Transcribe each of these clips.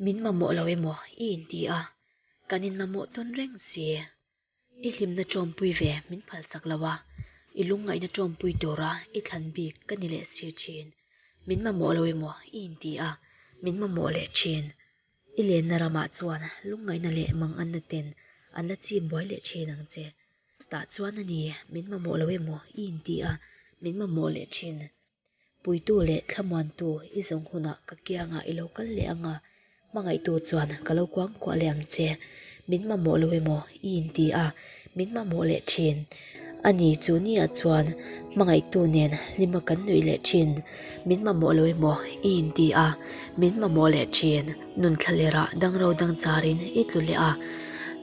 Min mamawh lo emaw? i inti a, kan in mamawh tawn reng si. I hlimna tawmpui ve min phalsak lo a, i lungngaihna tawmpui tura i thlan bik ka ni leh si thin. Min mamawh lo emaw? i inti a, min mamawh leh thin. I lenna ramah chuan lungngaihna leh manganna ten an la chim buai leh thin ang che. Chutah chuan a ni, min mamawh lo em aw? I inti a, min mamawh leh thin. Puitu leh thlamuantu i zawng hunah ka kiangah i lo kal leh ang a, hmangaihtu chuan ka lo kuang kuah leh ang che. Min mamawh lo em aw? I inti a. Min mamawh leh thin a ni chu ni ah chuan hmangaihtu nen hlim a kan nuih leh thin min mamawh lo emaw i inti a min mamawh leh thin nun thla ler ah dang ro dang char in i tlu leh a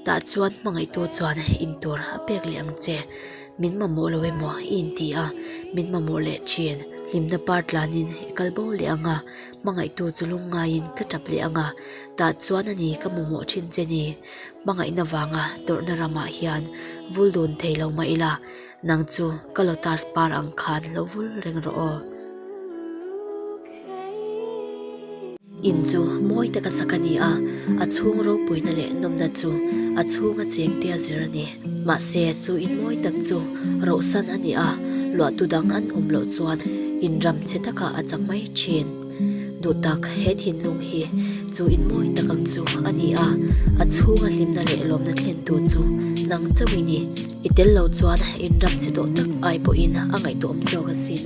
tah chuan hmangaihtu chuan in tur a pek leh ang che min mamawh lo emaw i inti a min mamawh leh thin hlimna par tlan in i kal bo leh ang a hmangaihtu chu lungngai in ka tap leh ang a tah chuan a ni ka mamawh thin che ni. Hmangaihna vanga tawrhna ramah hian vul dun thei lo mah ila, nang chu ka lotus par ang khan lo vul reng rawh aw. In chu mawi te ka sak a ni a, a chhung ropuina leh nawmna chu a chhunga chengte a zir a ni. Mahse, chu in mawi tak chu rohsan a ni a, luahtu dang an awm loh chuan in ram che takah a cham mai thin. Duh tak, he thinlung hi chu in mawi tak ang chu a ni a, a chhunga hlimna leh lawmna thlen tur chu nang chauh i ni. I tel lo chuan in ram che tawh tak ai pawhin a ngaihtuah awm zawk asin.